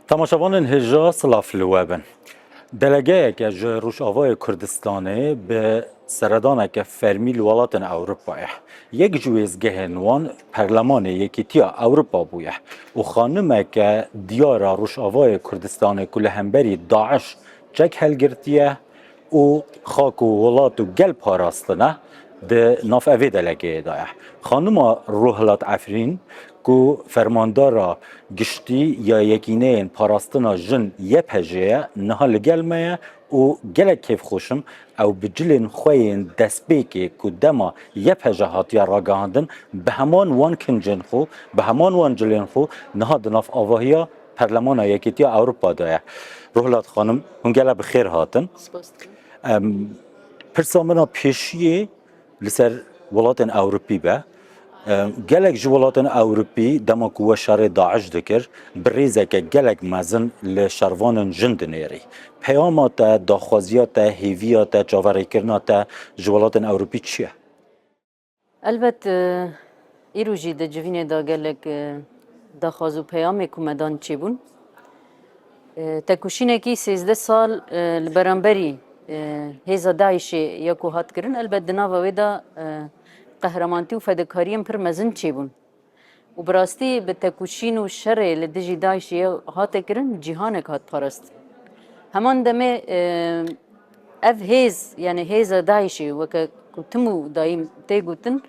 Temaşevanên hêja silav li we bin. Delegeyeke ji Rojavayê Kurdistanê bi seredaneke fermî li welatên Ewropayê. Yek ji wêzgehên wan Perlemanê Yekîtiya Ewropa bûye û xanimeke diyara Rojavayê Kurdistanê ku li hemberî DAIŞ çek hilgirtiye, û xak û welat û gel parastine di nav evê delegeyê de ye. Xanima Ruhilat Efrîn ku Fermandara Giştî ya Yekîneyên Parastina Jin YPJ'ê ye niha li gel me ye û gelek kêfxweş im ew bi cilên xwe yên destpêkê ku dema YPJ hatiye ragihandin bi heman wan kincên xwe, bi heman wan cilên xwe niha di nav avahiya Perlemana Yekîtiya Ewropa de ye. Ruhlat xanim, hûn gela bi xêr hatin. Spas dikim. Em, Pirsa min a pêşiyê li ser welatên Ewropî be. Em, Gelek ji welatên Ewropî dema ku we şerê DAIŞ dikir, bi rêzeke gelek mezin li şervanên jin dinêrî. Peyama te, daxwaziya te, hêviya te, çaverêkirina te ji welatên Ewropî çi ye? Elbet îro jî di civînê de gelek daxwaz û peyamê ku me dan çêbûn. Têkoşînekî sêzdeh sal li beramberî hêza DAIŞê ya ku hat kirin elbet di nava wê de qehramantî û fedekariyên pir mezin çêbûn. û bi rastî bi tekoşîn û şerê li dijî DAIŞ'ê hate kirin cîhanek hat parastin. Heman demê ev hêz yanê hêza DAIŞ'ê weke ku tim û dayîn tê gotin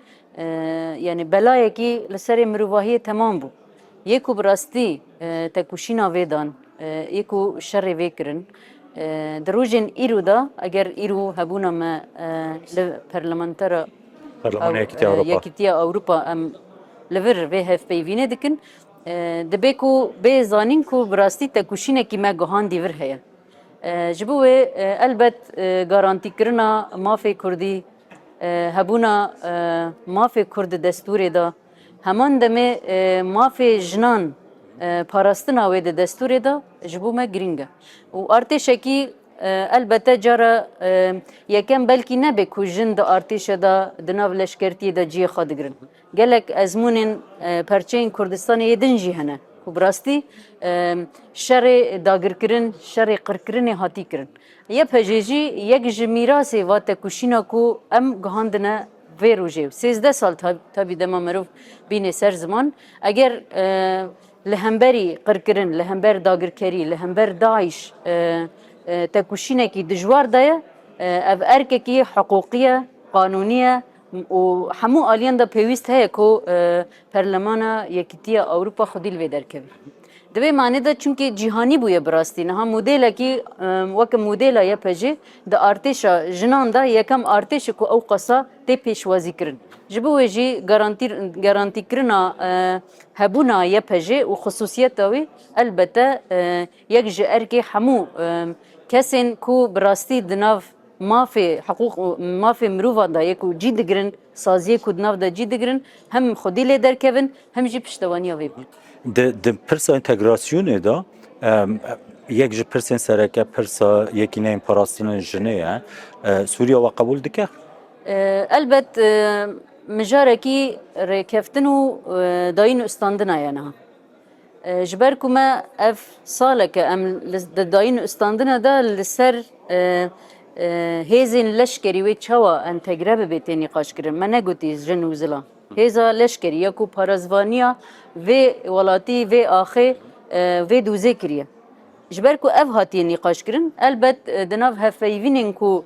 yanê belayekî li serê mirovahiyê temam bû. Yê ku bi rastî tekoşîna vê dan, yê ku şerê vê kirin di rojên îro de eger îro hebûna me li Perlemantera Parlemana Yekîtiya Ewropa. Yekîtiya Ewropa em li vir vê hevpeyvînê dikin. Dibe ku bê zanîn ku bi rastî têkoşînekî me guhandî vir heye. Ji bo wê elbet garantîkirina mafê Kurdî, hebûna mafê Kurd di destûrê de, heman demê mafê jinan parastina wê di destûrê de ji bo me girîng e. Û artêşekî Elbete cara yekem belkî nebe ku jin di artêşe de di nav leşkertiyê de ciyê xwe digirin. Gelek ezmûnên perçeyên Kurdistanê yê din jî hene ku bi rastî şerê dagirkirin, şerê qirkirinê hatî kirin. YPJ jî yek ji mîrasê va tekoşîna ku em gihandine vê rojê û sêzdeh sal tevî dema mirov bînê ser ziman eger Li hemberî qirkirin, li hember dagirkerî, li hember DAIŞ têkoşînekî dijwar de ye. Ev erkekî hiqûqî ye, qanûnî ye û hemû aliyan de pêwîst heye ku Perlemana Yekîtiya Ewropa xwedî li vê derkeve. Di vê manê de çimkî cîhanî bûye bi rastî. Niha modêlekî weke modêla YPJ di artêşa jinan de yekem artêş e ku ewqasa tê pêşwazîkirin. Ji bo wê jî garantîkirina Hebûna YPJ û xisûsiyeta wî elbette yek ji erkê hemû kesên ku bi rastî di nav mafê hiqûq û mafê mirovan de yê ku cî digirin, saziyê ku di nav de cî digirin hem xwedî lê derkevin hem jî piştewaniya wê bikin. Di pirsa întegrasyonê de yek ji pirsên sereke pirsa yekîneyên parastina jinê ye. Sûriya we qebûl dike? Elbet. Mijarekî rêkeftin û dayîn û istandina ye niha. Ji ber ku me ev saleke em di dayîn û istandina de li ser hêzên leşkerî wê çawa entegre bibe tê nîqaşkirin. Me negotî jin û zilam. Hêza leşkerî ya ku parêzvaniya vê welatî, vê axê, vê dûzê kiriye. Ji ber ku ev hatiye nîqaşkirin, elbet di nav hevpeyvînên ku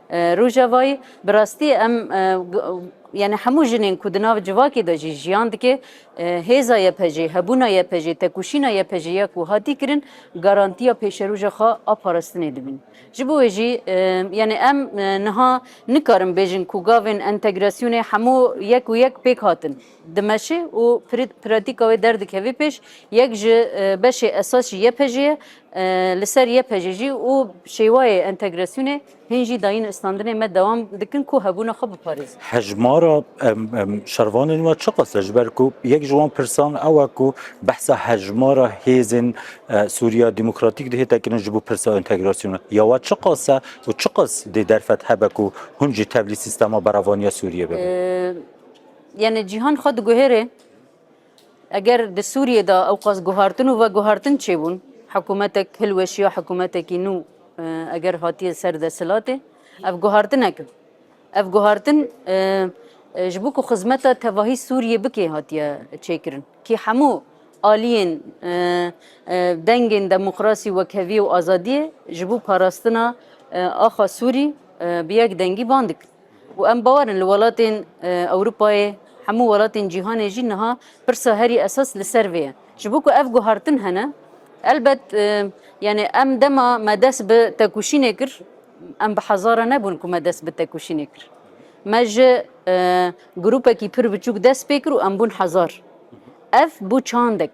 Rojavayî, bi rastî em yanî hemû jinên ku di nav civakê de jî jiyan dike, hêza YPJ'ê, hebûna YPJ'ê, tekûşîna YPJ'ê ya ku hatî kirin garantiya pêşeroja xwe a parastinê dibin. Ji bo wê jî yanî em niha nikarin bêjin ku gavên entegrasyonê hemû yek û yek pêk hatin. dimeşe û pratîka wê derdikeve pêş, yek ji beşê esasî YPJ'ê ye, li ser YPJ jî û şêwayê entegrasyonê hîn jî dayîn istandinê me dewam dikin ku hebûna xwe biparêzin. Hejmara şervanên we çiqas e ji ber ku yek ji wan pirsan ew e ku behsa hejmara hêzên Sûriya Demokratîk dihêta kirin ji bo pirsa entegrasyonê ya we çiqas e û çiqas dê derfet hebe ku hûn jî tevlî sîstema beravaniya Sûriyê bibin. Yanî cîhan xwe diguhêre eger di Sûriyê de ewqas guhartin û veguhartin çêbûn, hikûmetek hilweşiya hikûmetekî nû eger hatiye ser desthilatê, ev guhartinek e. Ev guhartin ji bo ku xizmeta tevahî Sûriyê bikê hatiye çêkirin. Kî hemû aliyên dengên demokrasî, wekheviyê û azadiyê ji bo parastina axa Sûrî bi yek dengî van dikin. û em bawer in li welatên Ewropayê, hemû welatên cîhanê jî niha pirsa herî esas li ser vê ye. Ji bo ku ev guhartin hene, elbet yanî em dema me dest bi tekoşînê kir, em bi hezaran nebûn ku me dest bi tekoşînê kir. Me ji grûpekî pir biçûk dest pê kir û em bûn hezar. Ev bû çandek.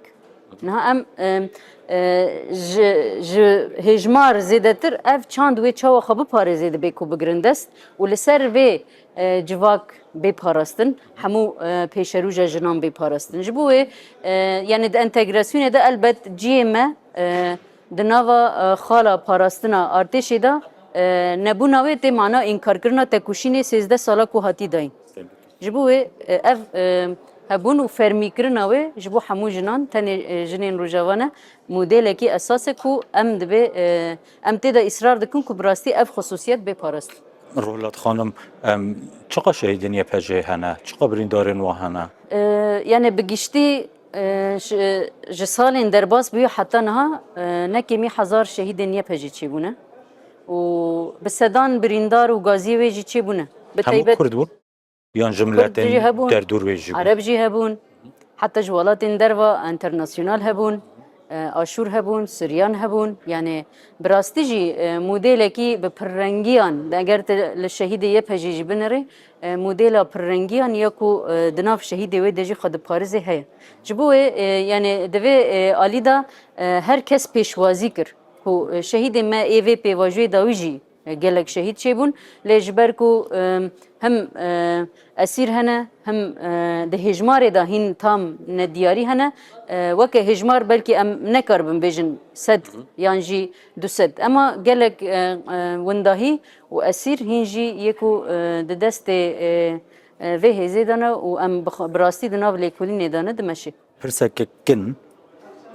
Niha em ji ji hêjmar zêdetir ev çand wê çawa xwe biparêzê dibê ku bigirin dest û li ser vê civak bê parastin hemû pêşerûja jinan bê parastin ji bo wê yani di entegrasyonê de elbet ciyê me di nava xala parastina artêşê de nebûna wê tê mana înkarkirina tekuşînê sêzdeh sala ku hatî dayîn. Ji bo wê ev hebûn û fermîkirina wê ji bo hemû jinan tenê jinên Rojava ne, modêlekî esas e ku em dibê em tê de îsrar dikin ku bi rastî ev xusûsiyet bê parastin. Ruhlat Xanim, Çiqas şehîdên YPJ'ê hene? Çiqas birîndarên wan hene? Yanê bi giştî ji salên derbas bûye heta niha ne kêmî hezar şehîdên YPJ'ê çêbûne. û bi sedan birîndar û gaziyê wê jî çêbûne. Bi Hemû taybet Kurd bûn yan ji Kurd miletên jî hebûn, derdûr wê jî bûn? Ereb jî hebûn, heta ji welatên derva enternasyonal hebûn, e, Aşûr hebûn, Suryan hebûn. Yanê bi rastî jî e, modêlekî bi pirrengiyan, di eger tu li şehîdê YPJ'ê jî binirê, e, modêla pirrengiyan ya ku e, di nav şehîdê wê de jî xwe diparizê heye. Ji bo wê e, yanê di vê e, alî de e, her kes pêşwazî kir. Ku şehîdên me ê vê pêvajoyê dawî jî gelek şehîd çêbûn lê ji ber ku him esîr hene him di hêjmarê de hîn tam nediyarî hene weke hêjmar belkî em nekaribin bêjin sed yan jî du sed ema gelek windahî û esîr hîn jî yê ku di destê vê hêzê de ne û em bi rastî di nav lêkolînê de ne dimeşê. Pirseke kin,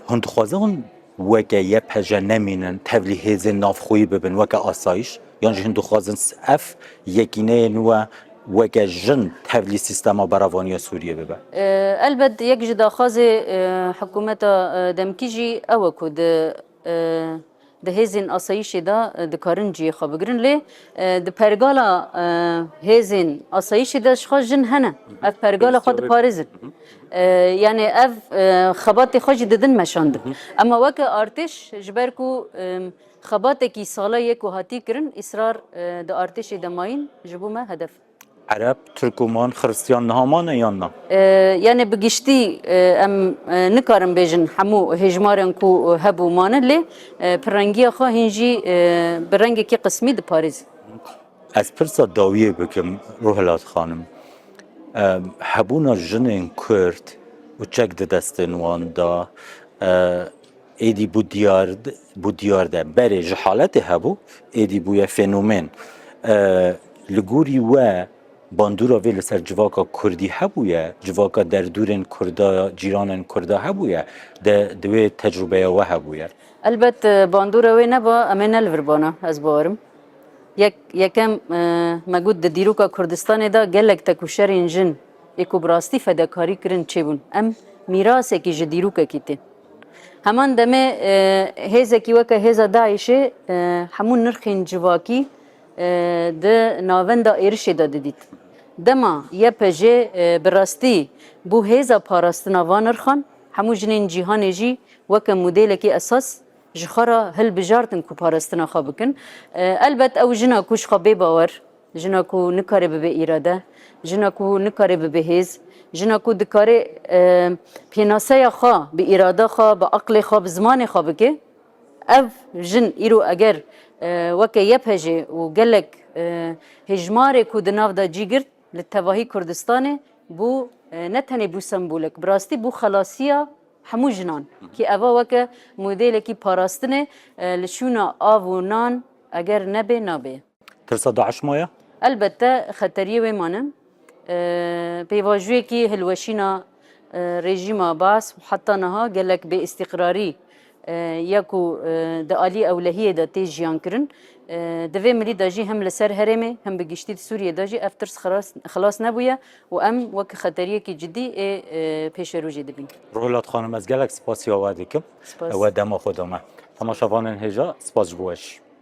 Hûn dixwazin hûn weke YPJ nemînin, tevlî hêzên navxweyî bibin weke asayiş? Yan jî hûn dixwazin ev yekîneyê nû e weke jin tevlî sîstema beravaniya Sûriyê bibe? Elbet yek ji daxwazê hikûmeta demkî jî ew e ku di Di hêzên asayîşê de dikarin ciyê xwe bigirin lê di pergala hêzên asayîşê de jixwe jin hene. Ev pergala xwe diparêzin. Yanê ev xebatê xwe jî didin meşandin. Ema weke artêş ji ber ku xebatekî sala yê ku hatiye kirin îsrar di artêşê de mayîn ji bo me hedef. Ereb, Tirkoman, Xiristyan niha mane yan na? Yanê bi giştî em nikarin bêjin hemû hêjmarên ku hebû mane lê pirrengiya xwe hîn jî bi rengekî qismî diparêzin. Ez pirsa dawiyê bikim Ruhilat xanim. Hebûna jinên Kurd û çek di destên wan de, Êdî bû diyar bû diyar de berê ji haletê hebû êdî bûye fenomen. Li gorî we bandora vê li ser civaka Kurdî hebûye, civaka derdûrên Kurda cîranên Kurda hebûye de di wê tecrûbeya we hebûye. Elbet bandora wê neba em ê nelivirbana ez bawer im. Yek yekem me got di dîroka Kurdistanê de gelek tekûşerên jin, Ê ku bi rastî fedekarî kirin çê bûn. Em mîrasekî ji dîrokekî tên. Heman demê hêzekî weke hêza DAIŞ'ê hemû nirxên civakî di navenda êrişê de didît. Dema YPJ bi rastî bû hêza parastina van nirxan, hemû jinên cîhanê jî weke modêlekî esas ji xwe re hilbijartin ku parastina xwe bikin. Elbet ew jina ku ji xwe bêbawer Jina ku nikare bibe îrade, jina ku nikare bibe hêz, jina ku dikare pênaseya xwe bi îrada xwe, bi aqlê xwe, bi zimanê xwe bike, ev jin îro eger weke YPJ û gelek hêjmarê ku di nav de cî girt li tevahî Kurdistanê bû ne tenê bû sembolek, bi rastî bû xelasiya hemû jinan. Kî eva weke modêlekî parastinê li şûna av û nan eger nebe nabe. Tirsa DAIŞ maye? Elbette xeteriyê wê mane. Pêvajûyekî hilweşîna rejîma Baas û heta niha gelek bêîstîqrarî ye ku di aliyê ewlehiyê de tê jiyankirin. Di vê mirî de jî hem li ser herêmê hem bi giştî di Sûriyê de jî ev tirs xilas nebûye û em wek xeteriyekî cidî ê pêşerojê dibîn. Ruhilat xanim ez gelek spasîya we dikim we dema xwe dame. Temaşevanên hêja spas ji bo we jî.